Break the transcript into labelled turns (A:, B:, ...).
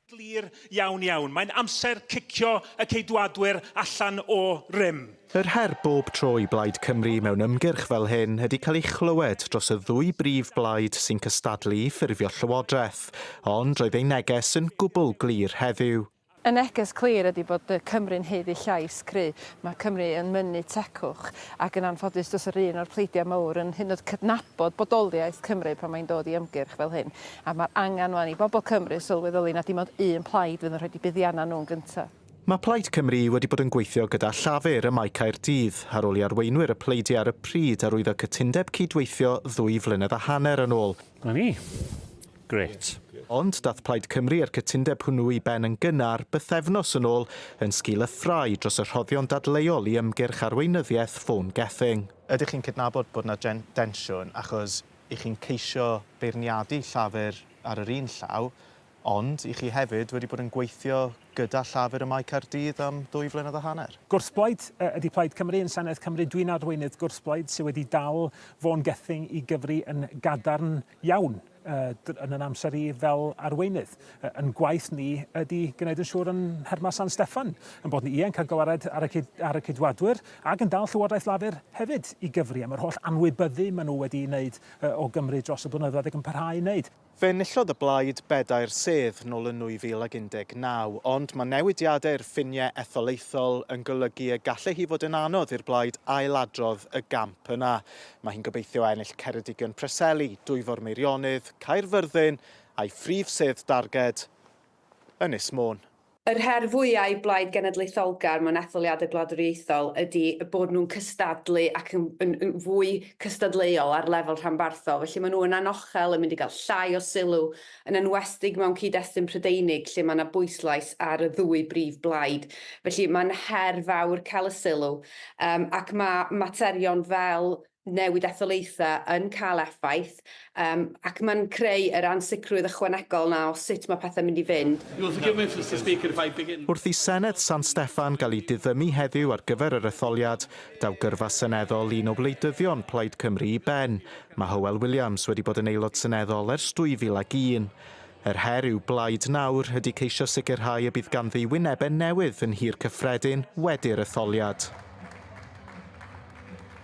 A: Glir iawn iawn. Mae'n amser cicio y Ceidwadwyr allan o rym. Yr her bob
B: tro i Blaid Cymru mewn ymgyrch fel hyn ydi cael ei chlywed dros y ddwy brif blaid sy'n cystadlu i ffurfio llywodraeth, ond roedd eu neges yn gwbl glir heddiw. Y neges clir
C: ydi bod y Cymry'n haeddu llais cry', mae Cymru yn mynnu tegwch, ac yn anffodus does yr un o'r pleidiau mowr yn hyd yn oed cydnabod bodoliaeth Cymru pan mae'n dod i ymgyrch fel hyn. A mae'r angen 'wan i bobl Cymru sylweddoli na dim ond un plaid fydd yn rhoid eu buddiannau nhw'n gyntaf. Mae Plaid Cymru
B: wedi bod yn gweithio gyda Llafur ym Mae Caerdydd ar ôl i arweinwyr y pleidiau ar y pryd arwyddo cytundeb cyd-weithio ddwy flynedd a hanner yn ôl. 'Na ni.
D: Grêt. Ond daeth
B: Plaid Cymru a'r cytundeb hwnnw i ben yn gynnar bythefnos yn ôl yn sgil y ffrae dros y rhoddion dadleuol i ymgyrch arweinyddiaeth Vaughan Gething. Ydych chi'n cydnabod
E: bod 'na densiwn achos I chi'n ceisio beirniadu Llafur ar yr un llaw, ond i chi hefyd wedi bod yn gweithio gyda Llafur ym Mae Caerdydd am ddwy flynedd a hanner. Gwrthblaid ydy
A: Plaid Cymru yn Senedd Cymru. Dwi'n arweinydd gwrthblaid sydd wedi dal Vaughan Gething i gyfri yn gadarn iawn yn yn amser i fel arweinydd. Yn gwaith ni ydy gwneud yn siŵr yn Nherma San Steffan yn bod ni ie'n cael gwared ar y cyd, ar y cydwadwyr Ac yn dal Llywodraeth Lafur hefyd i gyfri am yr holl anwybyddu maen nhw wedi ei wneud o Gymru dros y blynyddoedd ac yn parhau i wneud. Fe enillodd y Blaid
B: bedair sedd nol yn 2019, ond mae newidiadau i'r ffiniau etholaethol yn golygu y gallai hi fod yn anodd i'r Blaid ailadrodd y gamp yna. Mae hi'n gobeithio ennill Ceredigion Preseli, Dwyfor Meirionnydd, Caerfyrddin a'i phrif sedd darged, Ynys Môn. Yr her fwyaf
F: i Blaid Genedlaetholgar mewn etholiadau gwladwriaethol ydy eu bod nhw'n cystadlu ac yn yn yn fwy cystadleuol ar lefel rhanbarthol. Felly maen nhw yn anochel yn mynd i gael llai o sylw, yn enwestig mewn cyd-destun Prydeinig lle mae 'na bwyslais ar y ddwy brif blaid. Felly mae'n her fawr cael y sylw, yym ac mae materion fel newid etholaethau yn cael effaith, yym, ac mae'n creu yr ansicrwydd ychwanegol 'na o sut mae pethau'n mynd i fynd. Wrth
B: i Senedd San Steffan gael ei diddymu heddiw ar gyfer yr etholiad, daw gyrfa seneddol un o wleidyddion Plaid Cymru i ben. Mae Hywel Williams wedi bod yn Aelod Seneddol ers 2001. Yr her i'w blaid nawr ydy ceisio sicrhau y bydd ganddi wynebau newydd yn Nhŷ'r Cyffredin wedi'r etholiad.